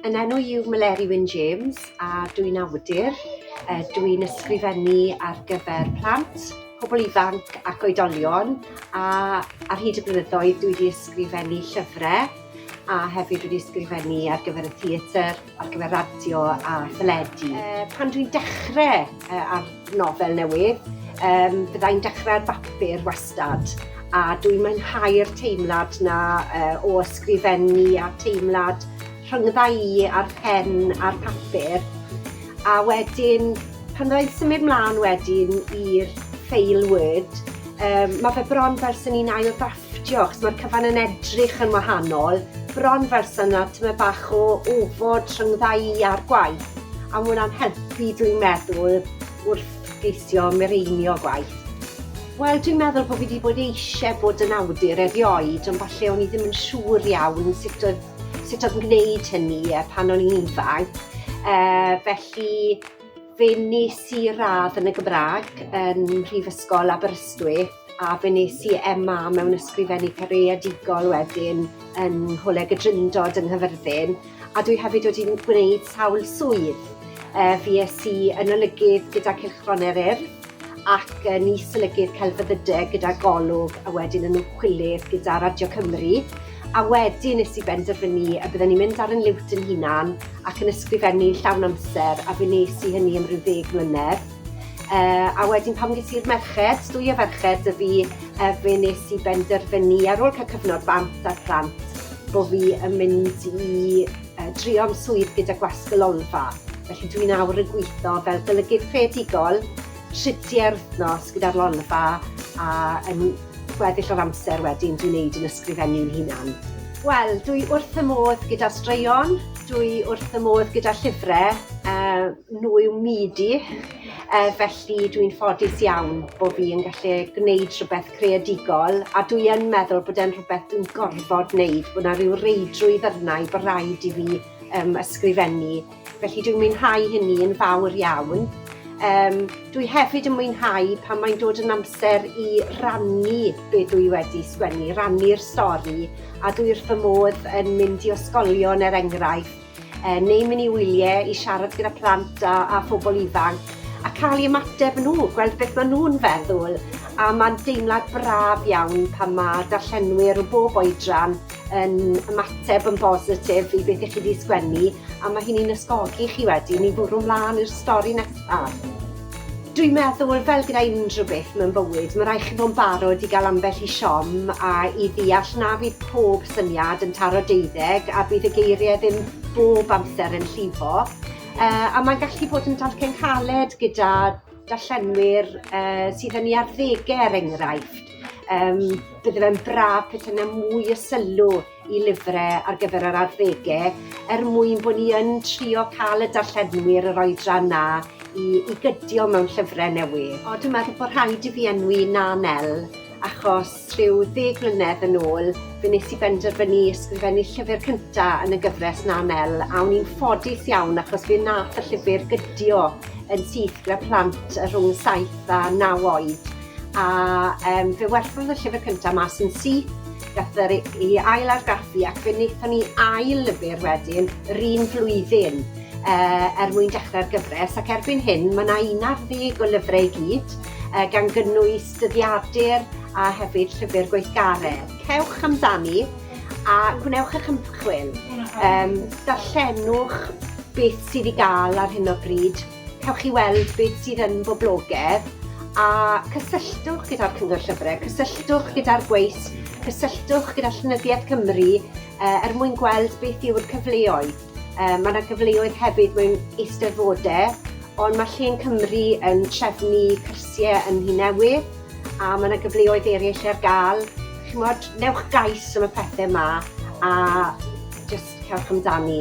Yn enw i yw Meleri Wyn James a dw i'n awdur. Dw i'n ysgrifennu ar gyfer plant, pobl ifanc ac oedolion a ar hyd y blynyddoedd dw i wedi ysgrifennu llyfrau a hefyd wedi ysgrifennu ar gyfer y theatr, ar gyfer radio a theledu. Pan dwi'n dechrau ar nofel newydd. Yym byddai'n dechrau ar bapur wastad a dwi'n mwynhau'r teimlad 'na yy o ysgrifennu a teimlad rhyngdda i a'r pen a'r papur. A wedyn pan fyddai'n symud mlaen wedyn i'r ffeil Word yym ma' fe bron fel swn i'n ail ddrafftio achos ma'r cyfan yn edrych yn wahanol, bron fel sa 'na tymed bach o ofod rhyngdda i a'r gwaith. A mae hwnna'n helpu dwi'n meddwl wrth geisio mireinio gwaith. Wel, dwi'n meddwl bod fi wedi bod eisiau bod yn awdur erioed, ond falle o'n i ddim yn siŵr iawn sut oedd, sut oedd yn gwneud hynny e, pan o'n i'n ifanc. E, felly, fe nes i radd yn y Gymraeg yn Rhyfysgol Aberystwyth a fe nes i MA mewn Ysgrifennu Careadigol wedyn yn Ngholeg y Drindod yng Nghyfyrddin, a dwi hefyd wedi m- gwneud sawl swydd. Yy fues i yn olygydd gyda Cylchgron Eryr ac yn is-olygydd celfyddyde gyda Golwg a wedyn yn ymchwilydd gyda Radio Cymru a wedyn nes i benderfynu y bydden i'n mynd ar yn liwt yn hunan ac yn ysgrifennu llawn amser a fe nes i hynny am ryw ddeg mlynedd. Yy a wedyn pan ges i'r merched, dwy o ferched 'da fi yy fe nes i benderfynu ar ôl ca'l cyfnod bant a'r plant bo' fi yn mynd i yy trio'n swydd gyda Gwasg y Lolfa. Felly dwi nawr yn gwitho fel golygydd creadigol tri tua'r wythnos gyda'r Lolfa a yn gweddill o'r amser wedyn dwi'n neud yn ysgrifennu'n hunan. Wel dwi wrth fy modd gyda straeon, dwi wrth fy modd gyda llyfre yy nhw yw myd i, yy felly dwi'n ffodus iawn bo' fi yn gallu gwneud rhywbeth creadigol a dwi yn meddwl bod e'n rhywbeth dwi'n gorfod wneud, bod 'na ryw reidrwydd arna i bo' raid i fi yym ysgrifennu felly dwi'n mwynhau hynny yn fawr iawn. Yym dwi hefyd yn mwynhau pan mae'n dod yn amser i rannu be' dwi wedi sgwennu, rannu'r stori a dwi wrth fy modd yn mynd i ysgolion er enghraifft Er neu mynd i wyliau i siarad gyda plant a, a phobl ifanc a cael ei ymateb nhw, gweld beth maen nhw'n feddwl. A mae'n deimlad braf iawn pan mae darllenwyr o bob oedran yn ymateb yn bositif i beth i chi wedi sgwennu a mae hynny'n ysgogi chi wedyn i fwrw mlaen i'r stori nesaf. Dwi'n meddwl, fel gyda unrhyw beth mewn bywyd, mae rhaid chi fod yn barod i gael ambell i siom a i ddeall na fydd pob syniad yn taro deuddeg a bydd y geiriau ddim bob amser yn llifo. Yy a mae'n gallu bod yn dalcen caled gyda darllenwyr yy sydd yn ei arddegau er enghraifft. Yym bydde fe'n braf petae 'na mwy o sylw i lyfre ar gyfer yr arddege er mwyn bo' ni yn trio ca'l y darllenwyr yr oedran 'na i i gydio mewn llyfre newydd. O dwi meddwl bo' rhaid i fi enwi Na Nel achos rhyw ddeg mlynedd yn ôl fe nes i benderfynu ysgrifennu llyfyr cynta yn y gyfres Na Nel a o'n i'n ffodus iawn achos fe nath y llyfyr gydio yn syth gyda plant yy rhwng saith a naw oed a yym fe werthodd y llyfyr cynta mas yn syth Gath yr i ail argraffu ac fe wnaethon ni ail lyfr wedyn yr un flwyddyn uh, er mwyn dechrau'r gyfres ac erbyn hyn mae yna un ar ddeg o lyfrau i gyd uh, gan gynnwys dyddiadur a hefyd llyfr gweithgaredd. Cewch amdani a gwnewch eich ymchwil. Um, darllenwch beth sydd i gael ar hyn o bryd Cewch chi weld beth sydd yn boblogedd a cysylltwch gyda'r Cyngor Llyfrau, cysylltwch gyda'r gweith, cysylltwch gyda Llenyddiaeth Cymru uh, er mwyn gweld beth yw'r cyfleoedd. Uh, mae yna gyfleoedd hefyd mewn eisteddfodau, ond mae Llên Cymru yn trefnu cyrsiau yn Nhŷ Newydd, a mae yna gyfleoedd eraill ar gael. Chymod, newch gais am y pethau yma a jyst cewch amdani.